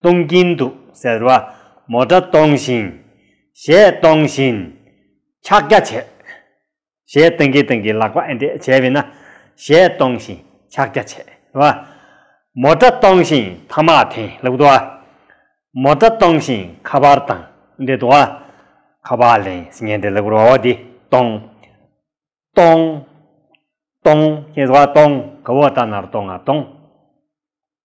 གཏོང་གིན་འདུག་ཟེར་བ་མོ་སྒྲ་གཏོང་བཞིན། ཞེས་གཏོང་བཞིན། ཕྱག་རྒྱ་བྱས། ཞེས་གཏོང་གིན་གཏོང་གིན་ལག་པ་ཨེ་འདེད་བྱས་བས་ན། ཞེས་གཏོང་བཞིན་ཕྱག་རྒྱ་བྱས། བ། མོ་སྒྲ་གཏོང་བཞིན་ཐ་མག་འཐེན་ལུགས་དུ་བ། མོ་སྒྲ་གཏོང་བཞིན་ཁ་པར་དང་འདྲེ་དུ་བ། ཁ་པར་ལེན་ཉན་འདྲེ་ལུགས་བ་བོ་འདི་གཏོང། གཏོང། གཏོང། ཞེས་བ་གཏོང་གི་བོ་ད་ནར་གཏོང་ང་གཏོང།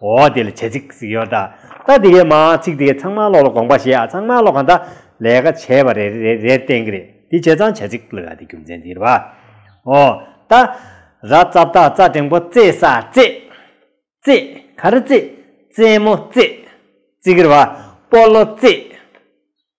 འོ་དེ་ལ་བྱེད་ཚིག་ཟིག་ཡོད་ད། ད་དེ་གའི་མ་ཚིག་དེ་གའི་ཚང་མ་ལོག་ལ་དགོངས་པ་བཞེས་ཨ་ཚང་མ་ལོག་ག་འདའ། ལས་ཀ་བྱས་པ་རེ་རེ་རེར་བསྟན་གི་རེད་དེ་བྱས་ཙང་བྱེད་ཚིག་ལོས་ཨ་དེ་རྒྱུ་མཚན་དེ་རེད་བ། འོ་ད། ར་རྩ་བཏགས་རྩ་འགྲེང་པོ་རྩེ་ས་རྩེ། རྩེ། ག་རེ་རྩེ། རྩེ་མོ་རྩེ། རྩེ་གི་རེད་བ། སྤོ་ལོ་རྩེ།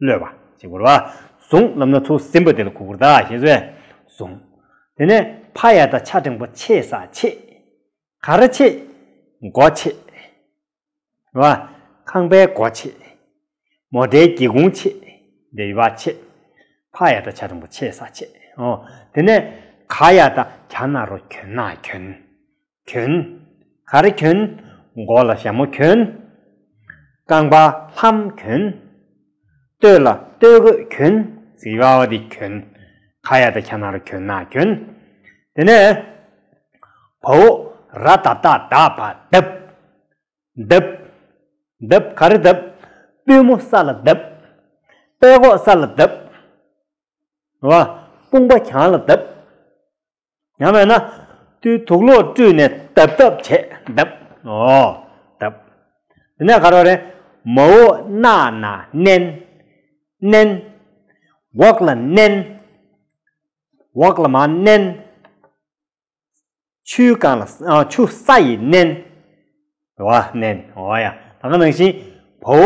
གློད་པ། ཅེས་བསྒོར་བ། གཟུངས་རྣམས་ནི་ཐུགས་སྲིན་པོ་དེ་ལ་གུ་གུར་བདག་ཞེས་གསོལ། གཟུངས། དེ་ནས་ཕ་ཡ་དང་ཕྱྭ་འབྲིང་པོ་ཆེ་ས་ཆེ། ག་རེ་ཆེ། སྒོ་ཆེ། བ། ཁང་པའི་སྒོ་ཆེ། མོ་རྟའི་སྒེའུ་ཁུང་ཆེ། འདི་ཡི་བ་ཆེ། ཕ་ཡ་དང་ཕྱྭ་འབྲིང་པོ་ཆེ་ས་ཆེ། དེ་ནས་ག་ཡ་དང་ག་ན་རོ་གྱོན་ན་གྱོན། གྱོན། ག་རེ་གྱོན། མགོ་ལ་ཞྭ་མོ་གྱོན། རྐང་པ་ལྷམ་གྱོན། སྟོད་ལ་སྟོད་གོས་གྱོན། ཟི་བ་བ་དེ་གྱོན། ཁ་ཡ་དང་ཁྱ་ན་རུ་གྱོན་ན་གྱོན། དེ་ནས། བ་བོ། ར་ད་ད་ད་བ་དབབ། དབབ། དབབ་ག་རེ་དབབ། པུས་མོ་ས་ལ་དབབ། པད་གོག་ས་ལ་དབབ། བ། དཔུང་པ་གྱང་ལ་དབབ། ཡང་མེད་ན། དུས་དུག་ལོག་བཀྲུས་ནས་དབབ་དབབ་བྱེད་དབབ། དབབ། དེ་ནས་གར་བ་རེ། མ་འོ་སྣ་ན་མནན། མནན། འོག་ལ་མནན། འོག་ལ་མ་མནན། ཆུ་གང་ལ། ཆུ་ས་ཡིས་མནན། འོ་མནན། འོ་ཡ། ད་ག་ནང་བཞིན། བ་འོ་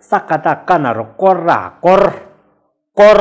ས་ཀ་ད་ཀ་ན་རོ་བསྐོར་ར་བསྐོར། བསྐོར།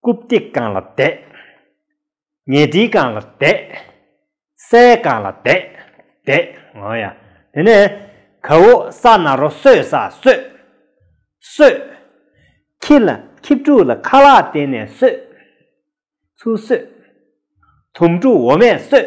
རྐུབ་སྟེགས་རྐང་ལ་བསྡད། ཉལ་ཁྲིའི་རྐང་ལ་བསྡད། སའི་རྐང་ལ་བསྡད། བསྡད། ཨོ་ཡ། དེ་ནས། ག་འོ་ས་ན་རོ་སོས་ས་སོས། སོས། ཁྱི་ལ་ཁྱི་ཕྲུག་ལ་ཁ་ལག་བསྟན་ནས་སོས། ཚུར་སོས། དུམ་ཕྲུག་འོ་མས་སོས།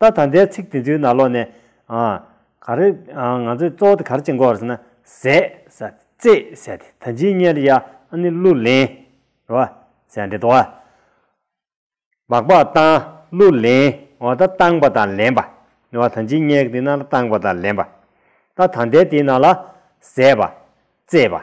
ད་ད་ལྟའི་ཚིག་དེ་ཚོའི་ནང་ལོགས་ནས། ག་རེ། ང་ཚོས་གཙོ་བོ་དེ་ག་རེ་བྱེད་འགོ་བར་ཟེར་ན། ཟས། རྩེད། ཟས་དེ་ད་ཇི་སྙེད་རེད་ཡ། ཨ་ནི་གླུ་ལེན། རེད་བ། ཟས་འདྲེ་དོ། སྦག་སྦག་བཏང། གླུ་ལེན། འོ་ད་བཏང་པ་དང་ལེན་པ། རེད་བ་ད་ཇི་སྙེད་ཀྱི་དེ་ནང་ལ་བཏང་པ་དང་ལེན་པ། ད་ད་ལྟའི་དེའི་ནང་ལ། ཟས་པ། རྩེད་པ།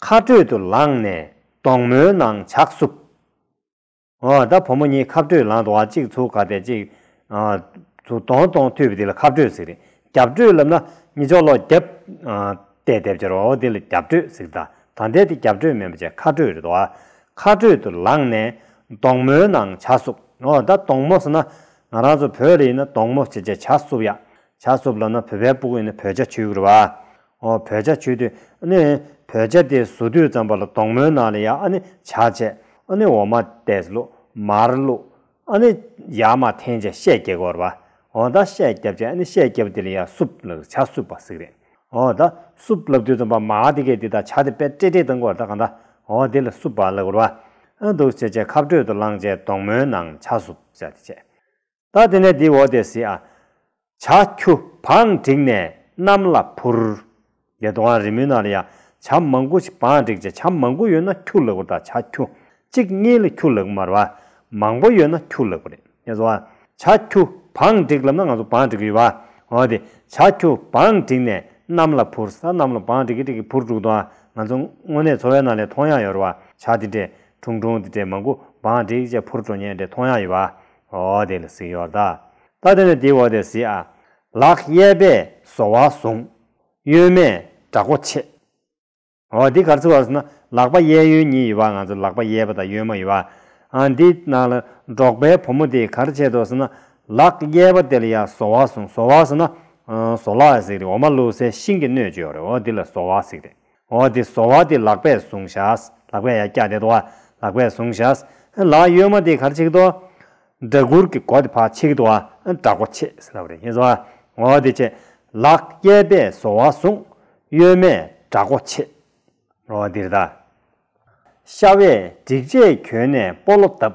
མཁའ་འགྲོས་དུ་ལངས་ནས་དོང་མོའི་ནང་ཇག་བསུབ། ཨོ། ད་བུ་མོ་གཉིས་མཁའ་འགྲོས་ལངས་འདུག་ཨ་གཅིག་ཚུགས་ཁ་བལྟས་གཅིག་ཚུགས་དོང་གཏོང་འཐུས་པ་དེ་ལ་མཁའ་འགྲོས་ཟེར། རྒྱབ་འགྲོས་ལབ་ན་གཉིས་ཅོག་ལོག་རྒྱབ་བལྟས་བལྟས་བྱ་རོགས་ཨོ་དེ་ལ་རྒྱབ་འགྲོས་ཟེར་གདའ། ད་འདས་དེ་རྒྱབ་འགྲོས་མིན་པ་ཆད་མཁའ་འགྲོས་རེད་འདུག་ཨ། མཁའ་འགྲོས་དུ་ལངས་ནས་དོང་མོའི་ནང་ཇག་བསུབ། ཨོ། ད་དོང་མོ་ཟེར་ན་ང་རང་ཚོ་བོད་རེད་ཡིན་ན་དོང་མོ་ཞེས་བྱ་ཇག་བསུབ་ཡ། ཇག་བསུབ་ལབ་ན་བོད་པའི་སྤུ་གུ་ཡིན་ན་བོད་ཇག་ཆོས་གུ་རུ་བ། ཨོ་བོད་བྱ་ཆུ་དུས་ཨ་ནི་བོད་བྱ་དེ་བཟོ་དུས་ཙམ་པ་ལ་དོག་མོའི་ནང་ལ་ཡ་ཨ་ནི་བྱ་བྱས་ཨ་ནི་འོ་མ་བལྟས་བླུགས་མར་བླུགས་ཨ་ནི་ཡ་མ་འཐེན་བྱས་ཤད་བཀྱེ་གོར་བ་ཨོ་ད་ཤད་བཀྱབ་བྱས་ཨ་ནི་ཤད་བཀྱབ་དེ་ལ་ཡ་སུབ་ལགས་བྱ་སུབ་པ་ཟིག་རེད་ཨོ་ད་སུབ་ལབ་དུས་ཙམ་པ་མ་ཨ་དེ་གས་དེ་ད་བྱ་དེ་པད་ཏྲེ་ཏྲེ་བཏང་གོར་ད་གང་ད་ཨོ་དེ་ལ་སུབ་པ་ལགས་གོར་བ་ཨ་འདུག་བྱས་བྱས་ཁབ་དྲོད་དུ་བླངས་བྱས་དོག་མོའི་ནང་བྱ་སུབ་བྱ་དེ་བྱས། ད་དེ་ནས་དེའི་འོག་དེ་སི་ཨ། བྱ་ཁྱུ། བང་བསྒྲིགས་ནས་གནམ་ལ་འཕུར། ལེ་ཏོ་ཨང་རི་མུན་ནཱ་ལི་ཡ། བྱ་མང་པོ་ཞིག་བང་བསྒྲིགས་བྱས་བྱ་མང་པོ་ཡོད་ན་ཁྱུ་ལེགས་པོ་རེད་ད་བྱ་ཁྱུ། གཅིག་གཉིས་ལ་ཁྱུ་ལེགས་པོ་མ་རེད་བ། མང་པོ་ཡོད་ན་ཁྱུ་ལེགས་པོ་རེད་ངས་སོ། བྱ་ཁྱུ། བང་བསྒྲིགས་ལབ་ན་ང་ཚོ་བང་བསྒྲིགས་ཡོད་བ། འོ་དེ། བྱ་ཁྱུ། བང་བསྒྲིགས་ནས་གནམ་ལ་འཕུར་ས་གནམ་ལ་བང་བསྒྲིགས་བསྒྲིགས་བསྒྲིགས་འཕུར་འགྲུག་ཏོ། ང་ཚོ་དངོས་གནས་འཚོ་བའི་ནང་ལས་མཐོང་ཡག་ཡོད་རེད་བ། བྱ་དེ་འདྲས། ཁྲུང་ཁྲུང་དེ་འདྲས་མང་པོ་བང་བསྒྲིགས་བྱས་འཕུར་འགྲོ་ཉེན་འདྲས་མཐོང་ཡག་ཡོད་བ། འོ་དེ་ལ་གཟིགས་ཡོད་ད། ད་དེ་ནས་དེའི་འོ་དེ་གཟིགས་ཨ། ལག་གཡས་པས་སོ་བ་བཟུང། གཡོན་མས་དགྲ་མགོ་ཕྱེ། འོ་འདི་གར་ཚུད་བ་སོང་ན་ལག་པ་གཡས་གཡོན་གཉིས་ཡོད་པ་ང་ཚོ་ལག་པ་གཡས་པ་དང་གཡོན་མ་ཡོད། ཨ་འདི་ན་ལ་འབྲོག་པའི་བུ་མོ་དེས་གར་བྱེད་དོ་ཟེར་ན། ལག་གཡས་པ་དེ་ལ་ཡང་སོ་བ་བཟུང་སོ་བ་ཟེར་ན། ཟོ་ལག་ཟིག་རེད་འོ་མ་བླུག་སའི་ཤིང་གི་སྣོད་བཅོས་རེད་འོ་འདི་ལ་སོ་བ་ཟིག་རེད། འོ་དེ་བཟོ་བ་དེ་ལག་པས་བཟུང་བཞག་ལག་པས་ཡ་སྐྱ་དེ་དོ་ལག་པས་བཟུང་བཞག་ལག་ཡོད་མ་དེ་གར་ཆིག་དོ། སྦྲ་གུར་གྱི་སྒོ་དེ་ཕར་ཆིག་དོ་སྦྲ་སྒོ་ཕྱེ་ཟེར་ན་བ་རེད་ཡིན་བཟོ་བ་འོ་དེ་ཆེ་ལག་གཡས་པས་བཟོ་བ་བཟུང་གཡོན་མས་སྦྲ་སྒོ་ཕྱེ། འོ་འདིར་ད། ཤ་བས་སྒྲིག་ཆས་གྱོན་ནས་སྤོ་ལོ་བཏབ།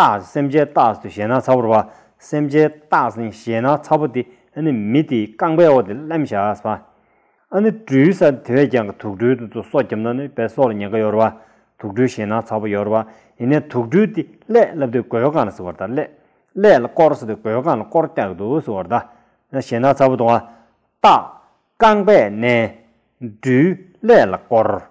རྟགས་སེམས་ཅན་རྟགས་སུ་ཞེ་ན་ཚ་བོར་བ། སེམས་ཅན་རྟགས་ནི་ཞེ་ན་ཚ་བོ་སྟེ་ཨ་ནི་མི་སྟེ་རྐང་པའི་འོག་ཏུ་སླེམ་བྱ་བ། ཨ་ནི་སྦྲུལ་ས་དེ་བས་ཀྱང་དུག་སྦྲུལ་དུ་ཚུ་སོ་བརྒྱབ་ན་ནི་བས་སོ་ལ་ཉེན་ཁ་ཡོར་བ། དུག་སྦྲུལ་ཞེ་ན་ཚ་བོ་ཡོར་བ་ཡིན་ནས་དུག་སྦྲུལ་ཏེ་ཀླད་བསླབ་ཏེ་གོས་གང་ལ་བསྲི་བར་དང་ཀླད་ཀླད་ལ་བསྐོར་བསྲི་སྟེ་གོས་གང་ལ་བསྐོར་བཀྱག་ཏུ་བསྲི་བར་དང། ཞེ་ན་ཚ་བོ་དུང་བ། རྟགས། རྐང་པས་མནན། སྦྲུལ་ཀླད་ལ་བསྐོར།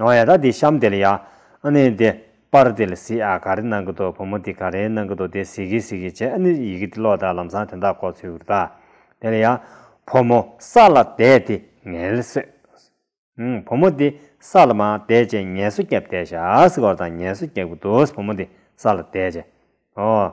ཨ་ཡ་ད་འདི་གཤམ་དེ་ལ་ཡ། ཨ་ནི་འདི། པར་དེ་ལ་གཟིགས་ཨ་ག་རེ་གནང་གི་འདུག་བུ་མོ་འདི་ག་རེ་གནང་གི་འདུག་དེ་གཟིགས་གི་གཟིགས་གི་བྱས་ཨ་ནི་ཡི་གེ་འདི་ཀློག་དང་ལམ་སང་དེ་འདྲ་གོ་ཚུལ་བུར་བལྟ། དེ་ལ་ཡ། བུ་མོ་ས་ལ་བསྡད་དེ་ངལ་གསོས། ཨང། བུ་མོ་འདི་ས་ལ་མ་བསྡད་ཅེས་ངལ་གསོ་རྒྱབ་བསྡད་ཤག་ཟིག་ཨོ་དང་ངལ་གསོ་རྒྱག་གི་འདུག་བུ་མོ་འདི་ས་ལ་བསྡད་ཅེས། ཨོ།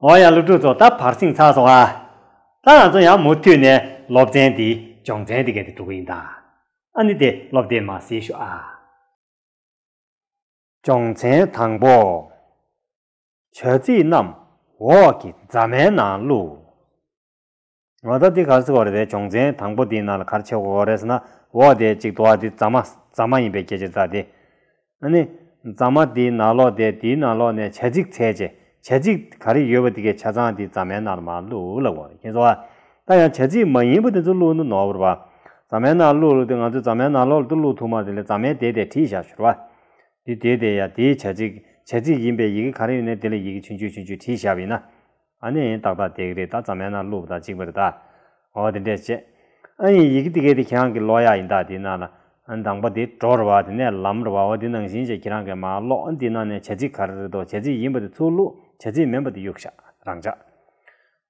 འོ་ཡང་སློབ་ཕྲུག་ཚོ་ད་བར་སིང་ཚགས་སོང་ཨ། ད་ང་ཚོ་ཡང་མུ་མཐུད་ནས་སློབ་ཚན་འདི་སྦྱོང་ཚན་འདི་ག་དེ་འགྲོ་གི་ཡིན་ད། ཨ་ནི་དེ་སློབ་དེ་མ་ཟེར་ཞུ་ཨ། སྦྱོང་ཚན་དང་པོ། བྱ་ཚིག་རྣམས་འོག་གི་རྫ་མའི་ནང་བླུགས། ང་ད་འདི་གར་སེ་བ་རེད་པའི་བྱུང་ཚན་དང་པོ་འདི་ནང་ལ་གར་ཆེ་བོ་རེད་ཟེར་ན་འོག་དེ་གཅིག་དོ་བ་འདི་རྫ་མ་རྫ་མ་ཡིན་པའི་སྐད་ཆ་རྫ་དེ། ཨ་ནི། རྫ་མ་འདི་ནང་ལོགས་དེ་འདིའི་ནང་ལོགས་ནས་བྱ་ཚིག་ཚད་བྱེད་བྱ་ཚིག་ག་རེ་ཡོད་པ་འདི་གའི་ཆ་ཚང་འདི་རྫ་མའི་ནང་ལ་མ་བླུགས་ལབ་དགོས་ཁྱེད་ཚོ་ཨ། ད་ཡང་བྱ་ཚིག་མ་ཡིན་པ་དེ་ཚོ་བླུགས་ན་ནོར་བུར་བ། རྫ་མའི་ནང་བླུགས་ལོ་དེ་ང་ཚོའི་རྫ་མའི་ནང་ལོགས་ལ་དུ་བླུགས་ཐུག་མ་དེ་ལས་རྫ་མའི་དེ་དེ་བྲིས་བཞག་ཤོར་བ། འདི་དེ་དེ་ཡ་དེའི་བྱ་ཚིག་བྱ་ཚིག་ཡིན་པའི་ཡི་གེ་ག་རེ་ཡོད་ནས་དེ་ལ་ཡི་གེ་ཆུང་ཆུང་ཆུང་ཆུང་བྲིས་བཞག་པ་ཡིན་ན། ཨ་ནི་ཡིན་ཏག་ཏག་དེ་གི་རེད་ད་ཙམ་མེད་ན་གླུ་བ་དང་གཅིག་པ་རེད་ད། ཨོ་དེ་འདྲས་བྱས། ཨ་ཡིན་ཡི་གི་དེ་གི་དེ་ཁྱེད་རང་གི་ལོག་ཡ་ཡིན་ཏག་དེ་ན་ལ། མདང་པ་དེ་གྲོག་ར་བ་དེ་ནས་ལམ་ར་བ་ཨོ་དེ་ནང་བཞིན་བྱས་ཁྱེད་རང་གི་མ་ལོག་ཨ་འདི་ན་ནས་བྱ་ཚིག་ག་རེ་རེད་དོ་བྱ་ཚིག་ཡིན་པ་དེ་ཚུར་བླུག་བྱ་ཚིག་མིན་པ་དེ་གཡུག་ཤག་རང་བྱ།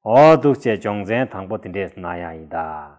ཨོ་འདུག་བྱས་སྦྱོང་ཚན་དང་པོ་དེ་འདྲས་ན་ཡང་ཡིན་ཏག།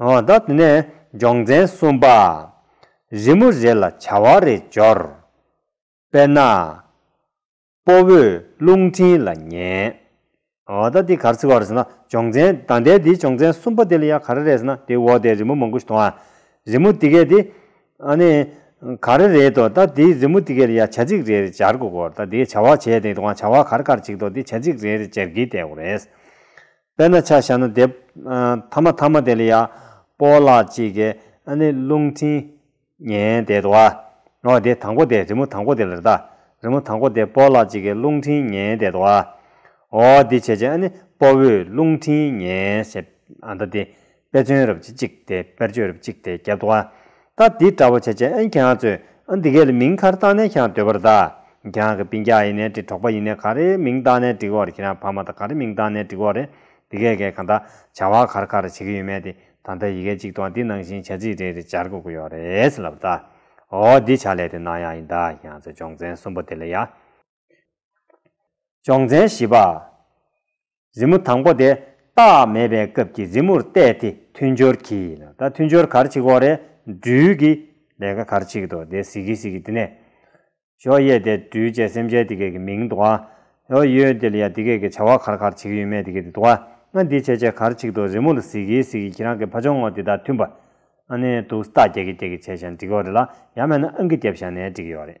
དེ་ནས་སྦྱོང་ཚན་གསུམ་པ། རི་མོ་རེ་ལ་བྱ་བ་རེ་སྦྱོར། དཔེར་ན། སྤོ་བོས་རླུང་འཕྲིན་ལ་ཉན། འོ་ད་འདི་གར་ཚིག་བར་ཟེར་ན་སྦྱོང་ཚན་ད་ལྟའི་འདིའི་སྦྱོང་ཚན་གསུམ་པ་འདི་ལ་ཡ་ག་རེ་རེད་ཟེར་ན་འདིའི་འོག་དེའི་རི་མོ་མང་པོ་ཞིག་མཐོང་ཨ། རི་མོ་འདི་གའི་འདི། ཨ་ནི། ག་རེ་རེད་དོ་ད་འདིའི་རི་མོ་འདི་གའི་ལ་ཡ་བྱ་ཚིག་རེ་རེ་སྦྱར་དགོས་གོ་ད་འདིའི་བྱ་བ་བྱས་ཏེ་དེ་གང་བྱ་བ་གར་གར་བྱེད་དོ་འདི་བྱ་ཚིག་རེ་རེ་སྦྱར་གྱི་བསྡད་གོ་རེད། དཔེར་ན་ཆ་བྱ་ན་དེབ། ཐ་མ་ཐ་མ་དེ་ལ་ཡ། པོ་ལ་གཅིག་གི། ཨ་ནི་རླུང་འཕྲིན། ཉན་དེ་དོ། ཨོ་དེ་དང་པོ་དེ་རི་མོ་དང་པོ་དེ་ལ་རི་དྭགས། རི་མོ་དང་པོ་དེ་པོ་ལ་གཅིག་གི་རླུང་འཕྲིན་ཉན་དེ་དོ། ཨོ་འདི་བྱེད་བྱེད་ཨ་ནི་པོ་བོའི་རླུང་འཕྲིན་ཉན་བྱེད། ཨ་ད་དེ། དཔེ་མཚོན་རབས་ཀྱི་གཅིག་སྟེ་དཔེར་བརྗོད་རབས་གཅིག་སྟེ་བརྒྱད། བརྡ་འདི་འདྲ་བོ་བྱས་རྗེས་ཨན་གྱང་ཚོས་འདི་གའི་མིང་ཁར་བཏགས་ནས་ཀྱང་འདོད་པར་གདའ། གྱང་གི་པིན་གྱག་ཡིན་ནའི་དྲིལ་གྲོགས་པ་ཡིན་ནའི་ག་རེའི་མིང་བཏགས་ནས་འབྲི་འོར་ཁྱེད་རང་ཕ་མ་དང་ག་རེ་མིང་བཏགས་ནས་འབྲི་འོར་རེད། འདི་གས་གས་གང་དག་བྱ་བ་གར་གར་བྱེད་ཀྱི་ཡོད་མེད་དེ་ད་ལྟ་ཡི་གེ་གཅིག་ཏུའང་འདི་ནང་བཞིན་བྱ་ཚིག་རེ་རེ་སྦྱར་དགོས་ཀྱི་ཡོད་རེད་ལབ་གདའ། འོ་འདི་བྱ་ལས་དེ་ནང་ཡང་ཡིན་གདའ་གྱང་ཚོས་སྦྱོང་ཚན་གསུམ་པོ་དེ་ལ་ཡག་སྦྱོང་ཚན་བཞི་པ། རི་མོ་དང་པོ་དེ་རྟགས་མེད་པའི་སྐབས་ཀྱི་རི་མོར་བལྟས་ཏེ་མཐུན་སྦྱོར་གྱིས་ལ་ད་མཐུན་སྦྱོར་གར་གཅིག་འོག་རེ་སྦྲུལ་གྱི་ལས་ཀ་གར་གཅིག་དོ་དེ་ཟི་གི་ཟི་གི་དེ་ནས་ཞོ་གཡས་དེ་སྦྲུལ་བཅས་སེམས་ཅན་དེ་སྐད་ཀྱི་མིང་དུ་བ། ཞོ་གཡོན་དེ་ལ་ཡང་དེ་སྐད་ཀྱི་བྱ་བ་གར་གར་བྱེད་ཀྱི་ཡོད་མེད་དེ་སྐད་དུ་དུ་བ་ང་འདི་བྱས་བྱས་གར་གཅིག་དོ་རི་མོ་ལ་ཟི་གི་ཟི་གི་ཁྱེད་རང་གི་ཕ་ཆུང་ངོ་དེ་དང་མཐུན་པ་ཨ་ནི་འདུག་རྟགས་རྒྱག་གི་རྒྱག་གི་བྱས་བྱས་འགྲིག་གི་རེད་ལ་ཡར་མེད་ན་ཨང་ཀི་བརྒྱབ་བཞག་ནས་འགྲིག་གི་ཡོད་རེད།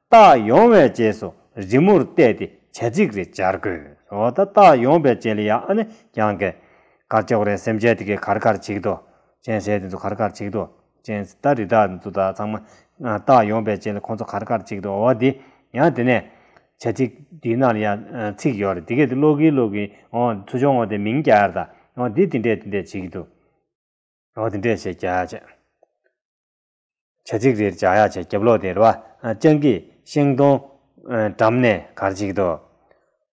བཏགས་ཡོང་བའི་རྗེས་སུ་རི་མོར་བལྟས་ཏེ་བྱ་ཚིག་རེ་སྦྱར་དགོས། འོ་ད་བཏགས་ཡོང་པའི་རྗེས་ལ་ཡང་ཨ་ནི་ཀྱང་ཀའི། གར་ཅོག་རེ་སེམས་བྱས་དེ་གའི་གར་གར་བྱེད་དོ། ཅན་བྱས་དེ་ཚོ་གར་གར་བྱེད་དོ། ཅན། ད་རི་དྭགས་འདི་ཚོ་དག་ཚང་མ། བཏགས་ཡོང་པའི་རྗེས་ལ་ཁོ་ཚོ་གར་གར་བྱེད་དོ་འོ་དེ། ཡང་དེ་ནས། བྱ་ཚིག་འདི་ན་ལ་ཡང་ཚིག་ཡོད་རེད་དེ་གས་དེ་ཀློག་གིན་ཀློག་གིན་འོ་ཚུར་བྱུང་ངོ་དེ་མིང་བརྒྱ་རེད་ད། འོ་དེ་དེ་འདྲས་དེ་འདྲས་བྱེད་ཀྱི་འདུག། འོ་དེ་འདྲས་བྱས་བརྒྱ་བྱས། བྱ་ཚིག་རེར་བྱ་གཡག་བྱ་རྒྱབ་ལོག་སྟེ་ར་བ་སྤྱང་ཀི་ཤིང་སྡོང། འགྲམ་ནས་གར་གཅིག་ཏུ།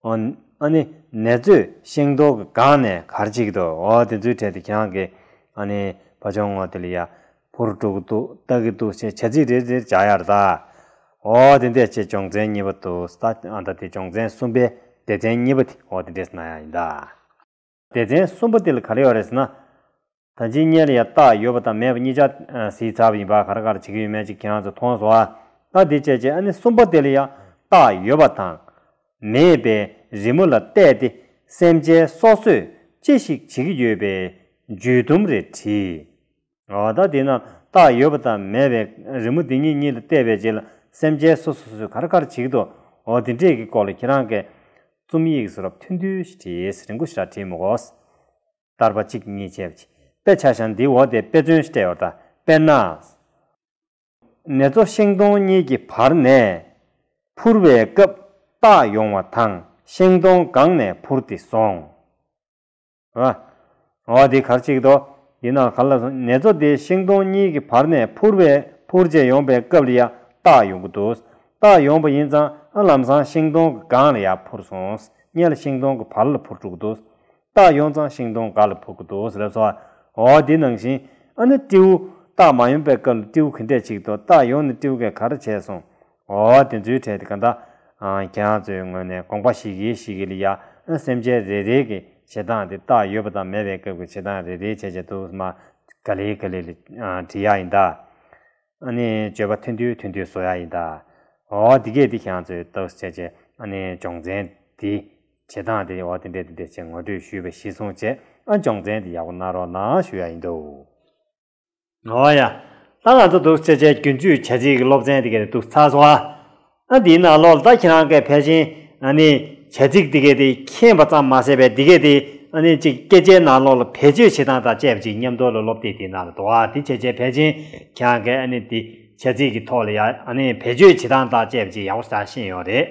ཨོ། ཨ་ནི། ནེ་ཙོས་ཤིང་སྡོང་གི་སྒང་ནས་གར་གཅིག་ཏུ། ཨོ། དེ་ཚོའི་གྲས་དུ་གྱང་གི། ཨ་ནི། བ་ཅོང་ངོ་ཏི་ལི་ཡ། བུར་སྤྲུག་གི་ཏུ། སྟག་གི་ཏུ་ཞེས་བྱ་ཚིག་རེ་རེར་བྱ་གཡག་ར། ཨོ། དེ་འདས་བྱེད་སྦྱོང་ཚན་གཉིས་པ་དུ། ཨ་ད་དེ་སྦྱོང་ཚན་གསུམ་པའི་སྡེ་ཚན་གཉིས་པ་དེ། ཨོ་དེ་འདས་ན་ཡ་ཡིན་ད། སྡེ་ཚན་གསུམ་པོ་ཏིལ་ག་རེ་ཡོད་རེད་ཟེར་ན། ད་ཇི་སྙེད་ལ་ཡང་བཏགས་ཡོད་པ་དང་མེད་པ་གཉིས་ཆ་སྲིད་ཚབ་ཡིན་པ་ག་རེ་ག་རེ་བྱེད་ཀྱི་ཡོད་མེད་ཅིག་ཁྱེད་རང་ཚོས་མཐོང་སོང་ཨ། ད་དེ་བྱས་བྱས་ཨ་ནི་གསུམ་པོ་ཏིལ་ཡང་བཏགས་ཡོད་པ་དང། མེད་པའི་རི་མོ་ལ་བལྟས་ཏེ་སེམས་ཅན་སོ་སོས་ཅི་ཞིག་བྱེད་ཀྱི་ཡོད་པའི་འཇུས་བསྡོམས་རེ་བྲིས། ད་དེས་ན་རྟགས་ཡོད་པ་དང་མེད་པའི་རི་མོ་འདི་གཉིས་གཉིས་ལ་བལྟས་པའི་རྗེས་ལ་སེམས་ཅན་སོ་སོ་སོས་གར་གར་བྱེད་ཀྱི་འདུག་འོ་དེ་འདྲས་ཀྱི་སྐོར་ལ་ཁྱེད་རང་གིས་རྩོམ་ཡིག་གསུང་རབ་ཐུང་ཐུང་ཞིག་བྲིས་རིང་ཁུ་ཤྲཱི་བྲིས་མི་དགོས། བསྟར་པ་གཅིག་གཉིས་བྱས་པ་ཅི་དཔེ་ཆ་ཤང་འདིའི་འོག་དེ་དཔེ་མཚོན་ཤྲཱི་ཨོར་ད་པེར་ནཱས། ནེ་ཙོ་ཤེང་སྡོང་གཉིས་ཀྱི་བར་ནས་འཕུར་བའི་སྐབས་རྟགས་ཡོང་བ་དང་ཤེང་སྡོང་སྒང་ནས་འཕུར་ཏེ་སོང། ང། ང་བ་འདི་གར་ཆིག་ཏོ། ཡིན་ནའང་ག་ལ་སོང་ནེ་ཚོ་དེ་ཤིང་སྡོང་གཉིས་ཀྱི་བར་ནས་འཕུར་བས་འཕུར་རྗེས་ཡོང་པའི་སྐབས་ལ་ཡང་བཏགས་ཡོང་གི་འདུག་བཏགས་ཡོང་པ་ཡིན་ཙང་ཨ་ལམ་སང་ཤིང་སྡོང་གི་སྒང་ལ་ཡང་འཕུར་སོང་བརྙན་ལ་ཤིང་སྡོང་གི་བར་ལ་འཕུར་འགྲོ་གི་འདུག་བཏགས་ཡོང་ཙང་ཤིང་སྡོང་འགའ་ལ་འཕུར་གི་འདུག་ལབ་སོང་ང་བ་འདི་ནང་བཞིན་ཨ་ནི་སྤྲེའུ་བཏགས་མ་ཡོང་པའི་སྐབས་ལ་སྤྲེའུ་གི་འདྲེ་ཆིག་ཏོ་བཏགས་ཡོང་ནས་སྤྲེའུ་གས་ག་རེ་བྱས་སོང་ཨོ་དེ་ཚོའི་གྲས་དེ་ག་འདྲ་ཁྱེད་རང་ཚོའི་ངོས་ནས་དགོངས་པ་ཞིག་གིས་ཞིག་གིས་ལ་ཡ་ཨོ་སེམས་ཅན་རེ་རེའི་གི་བྱེད་སྟངས་དེ་རྟགས་ཡོད་པ་དང་མེད་པའི་སྐབས་ཀྱི་བྱེད་སྟངས་རེ་རེའི་བྱས་བྱས་ཐུགས་སྨ་ག་ལེ་ག་ལེ་ལི་བྲིས་ཡག་ཡིན་ད། ཨ་ནི་སྤྱོད་པ་མཐུན་དུས་མཐུན་དུས་བཟོ་ཡག་ཡིན་ད། ཨོ་དེ་གས་དེ་ཁྱེད་རང་ཚོའི་ཏོག་བྱས་བྱས་ཨ་ནི་སྦྱོང་བརྩན་དེ་བྱེད་སྟངས་དེ་ཨོ་དེ་འདྲས་དེ་འདྲས་བྱས་ངོ་སྤྲོད་ཞུས་པ་གཞི་བཟུང་བྱས་ཨ་སྦྱོང་བརྩན་དེ་ཡག་པོ་གནང་རོགས་གནང་ཞུ་ཡག་ཡིན་དུ། ཨོ་ཡ། ད་ང་ཚོ་དུག་སེལ་ཆས་རྒྱུན་སྤྱོད་བྱ་ཚིག་སློབ་ཚན་དེ་གའི་དུག་ཚ་བཟོ་བ། ཨ་འདིའི་ནང་ལོགས་ལ་ད་ཁྱེད་རང་གས་ཕལ་ཆེན་ཨ་ནི་བྱ་ཚིག་དེ་གའི་དེ་མཁྱེན་པ་ཙམ་མ་ཟད་པའི་དེ་གའི་དེ་ཨ་ནི་གཅིག་སྐད་ཆའི་ནང་ལོགས་ལ་བེད་སྤྱོད་བྱེད་སྟངས་དང་བཅས་པ་ཅིག་མཉམ་དོར་ལ་སློབ་དེབ་དེའི་ནང་ལ་དུག་ཨ་འདི་བྱས་བྱས་ཕལ་ཆེན་ཁྱེད་རང་གས་ཨ་ནི་འདི་བྱ་ཚིག་གི་ཐོག་ལ་ཡ་ཨ་ནི་བེད་སྤྱོད་བྱེད་སྟངས་དང་བཅས་པ་ཅིག་ཡག་པོ་ཟ་ཤེས་ཡོང་རེད།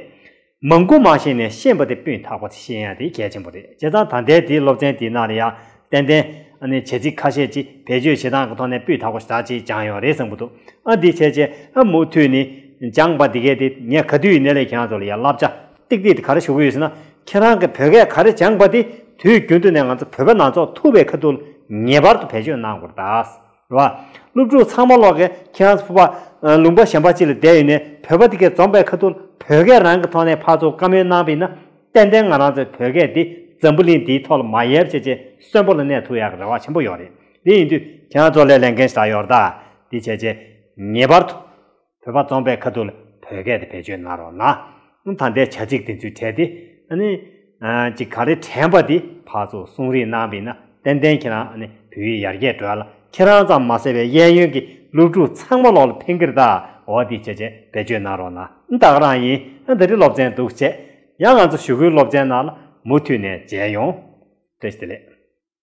མང་པོ་མ་ཤེས་ནས་ཤེས་པ་དེ་སྤུས་དག་པ་དེ་ཤེས་ཡ་དེ་གལ་ཆེན་པོ་རེད་བྱས་ཙང་ད་ལྟའི་དེའི་སློབ་ཚན་དེའི་ནང་ལ་ཡང་ཏན་ཏན། ཨནི་བྱེད་ཚིག་ཁ་ཤས་ཅིག་བེད་སྤྱོད་བྱེད་སྟངས་ཀྱི་ཐོག་ནས་སྤུས་དག་པོ་ཞིག་ད་ཅིག་སྦྱངས་ཡོང་རེད་བསམ་གི་འདུག་ཨ་འདི་བྱས་བྱས་ཨ་མུ་མཐུད་ནི་སྦྱངས་པ་འདི་གས་དེ་ངས་ག་དུས་ཡི་ནས་ལས་ཁྱེད་རང་ཚོ་ལ་ཡ་བསླབ་བྱ་ཏིག་ཏིག་དེ་ག་རེ་ཞུ་གི་ཡོད་ཟེར་ན། ཁྱེད་རང་གི་བོད་སྐད་ག་རེ་སྦྱངས་པ་དེ་དུས་རྒྱུན་དུ་ནས་ང་ཚོ་བོད་པ་ནང་ཚོགས་ཐུབ་པའི་ཁ་ཐུག་ལ་ངེས་པར་དུ་བེད་སྤྱོད་གནང་དགོས་རེད་ད། ལ། སློབ་ཕྲུག་ཚང་མ་ཀློག་གི་ཁྱེད་རང་ཚོ་ཕུ་པ། ལུང་པ་གཞན་པ་ཅིག་ལ་བསྡད་ཡོད་ནས་བོད་པ་འདི་གའི་རྩོམ་པའི་ཁ་ཐུག་ལ་བོད་སྐད་རང་གི་ཐོག་ནས་ཕར་ཚུར་བཀའ་མོལ་གནང་ཕིན་ན། ཏན་ཏན་ང་རང་ཚོའི་བོད་སྐད་འདི་འཛམ་བུ་གླིང་འདིའི་ཐོག་ལ་མ་ཡལ་བྱས་རྗེས་གསོན་པོ་ལ་གནས་ཐུབ་ཡག་གི་རེ་བ་ཆེན་པོ་ཡོད་རེད་དེ་ཡིན་དུས་ཁྱེད་རང་ཚོ་ལས་ལས་འགན་ཞིག་ད་ཡོར་ད་འདི་བྱས་རྗེས་ངེས་པར་དུ། བོད་པ་རྩོམ་པའི་ཁ་ཐུག་ལ་བོད་སྐད་དེ་བེད་སྤྱོད་གནང་རོགས་གནང། ད་ལྟའི་བྱ་ཚིག་དེ་ཚོའི་གྲས་དེ་ནི། ཅིག་ག་རེ་དྲན་པ་དེ་ཕར་ཚུར་གསུང་རིགས་གནང་བས་ན་ཏན་ཏན་ཁྱེད་རང་བོད་ཡིག་ཡར་རྒྱས་འགྲོ་ལ་ཁྱེད་རང་ཙམ་མ་ཟེར་བའི་གཡས་གཡོན་གྱི་སློབ་ཕྲུག་ཚང་མ་ལོག་ལ་ཕེང་གིར་དྭོགས་འོ་དེ་བྱས་བྱས་བེད་སྤྱོད་གནང་རོགས་གནང་ད་ག་རང་ཡིན་ད་རི་སློབ་ཚན་འདུག་བྱས་ཡང་ང་ཚོ་ཞུ་སྒོའི་སློབ་ཚན་ནང་ལ་མུ་མཐུད་ནས་མཇལ་ཡོང། ཏེ་ལེགས།